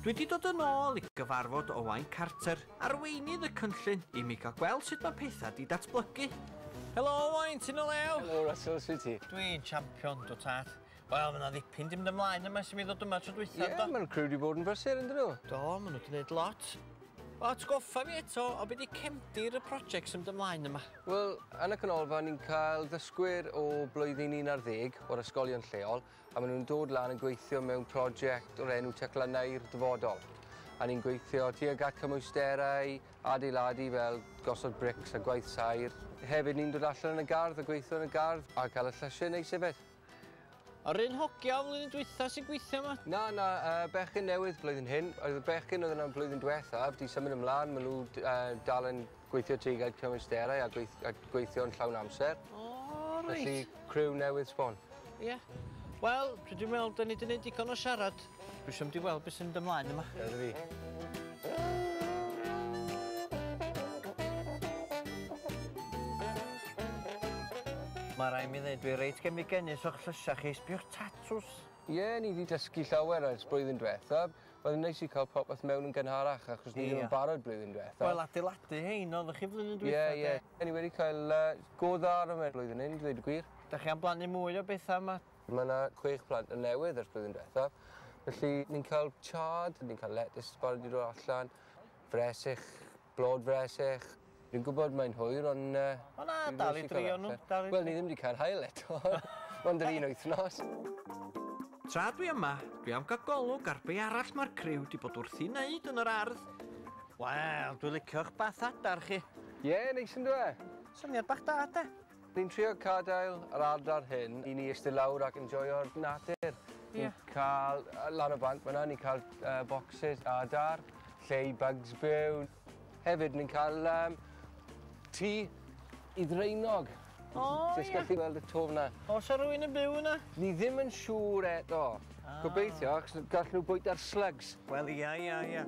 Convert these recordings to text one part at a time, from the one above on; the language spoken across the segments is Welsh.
Dwi 'di dod yn ôl i gyfarfod Owain Carter, arweinydd y cynllun, i mi gael gweld sut mae pethau 'di datblygu. Helo Owain, ti'n o lew? Helo Russell, sut ti? Dwi'n champion, do tad. Wel, mae yna ddipyn 'di mynd ymlaen yma ers i mi ddod yma tro dwytha, do? Ie, mae'r criw 'di bod yn brysur, yndyn nhw? Do, maen nhw 'di wneud lot. O, atgoffa fi eto o be 'di cefndir y project sy'n mynd ymlaen yma. Wel, yn y canolfan ni'n cael ddysgwyr o blwyddyn 11 o'r ysgolion lleol a maen nhw'n dod lan yn gweithio mewn prosiect o'r enw Teclynnau'r Dyfodol. A ni'n gweithio tuag at cymwysterau, adeiladu fel gosod brics a gwaith saer. Hefyd ni'n dod allan yn y gardd a gweithio yn y gardd a cael y llysiau neis hefyd. Yr un hogia o flwyddyn dwytha sy'n gweithio yma? Na, na, yy bechgyn newydd blwyddyn hyn. Oedd y bechgyn oedd yna blwyddyn dwethaf, di symud ymlaen, maen nhw d- yy dal yn gweithio tuag at cyfleusterau a gweith- a gweithio'n llawn amser. O reit. Felly criw newydd sbon. Ie. Wel, dwi 'di me'wl 'dan ni 'di neud digon o siarad. Dwi isio mynd i weld beth sy'n mynd ymlaen yma. Ia, na fi. Mae rai mi ddweud dwi reit gemigenus o'ch llysau chi, sbiwch tatws. Ie, yeah, ni wedi dysgu llawer ers blwyddyn diwetha. Byddai'n neis i cael popeth mewn yn gynharach achos ni ddim yn barod blwyddyn diwetha. Wel, adeiladu hein, oeddech chi flwyddyn diwetha? Ie, ie. Ni wedi cael uh, go dda ar yma blwyddyn hyn, dweud y gwir. Da chi am blannu mwy o bethau yma Mae 'na chwech plant yn newydd ers blwyddyn diwethaf, felly ni'n cael chard, ni'n cael letys barod i roi allan, fresyll, blod fresyll. Fi'n gwybod mae'n hwyr ond yy... O na, dal i drio nhw, dal i drio. Wel ni ddim wedi cael haul eto, mond yr un wythnos. Tra dwi yma, dwi am cael golwg ar be' arall mae'r criw 'di bod wrthi'n neud yn yr ardd. Wel, dwi licio'ch bath adar chi. Ie, neis yndyw e? Syniad bach da, 'de? Ni'n trio cadael yr ardal hyn i ni iste lawr ac enjoio'r natur. Ni'n cael lan y banc fan'na, ni'n cael bocsys a adar, lle i bygs byw. Hefyd ni'n cael yym tŷ i ddraenog. O ie. Jyst gallu gweld y to fan'na. O's 'na rywun yn byw yna? Ni ddim yn siŵr eto. Gobeithio achos gall nhw bwyta'r slygs. Wel ia ia ia.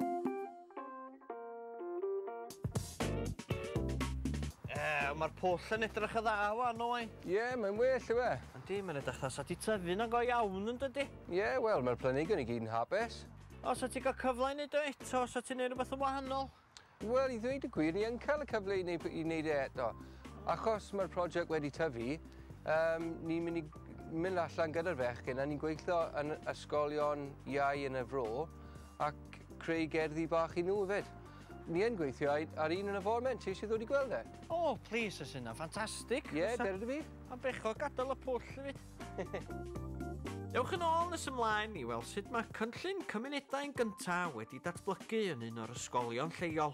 Ew, mae'r pwll yn edrych y dda wan, o'i? Ie, yeah, mae'n well, yw e? Yndi, mae'n edrych dda, sa ti tyfu na go iawn yn dydy? Ie, yeah, wel, mae'r planhigion i gyd yn hapus. O, sa ti gael cyfle i wneud o eto, sa ti'n gwneud rhywbeth yn wahanol? Wel, i ddweud y gwir, ni yn cael y cyfle i wneud, i wneud e eto. Achos mae'r prosiect wedi tyfu, um, ni'n mynd i mynd allan gyda'r fechgyn a ni'n gweithio yn ysgolion iau yn y fro Ac creu gerddi bach i nhw 'fyd. Ni yn gweithio ai- ar un yn y forment, ti isie ddod i gweld e? O, plis, fysa hynna'n ffantastig! Ie, Fysa- dere 'da fi. Ma'n bechod gadael y pwll i fi. Dewch yn ôl nes ymlaen i weld sut mae cynllun cymunedau'n gyntaf wedi datblygu yn un o'r ysgolion lleol.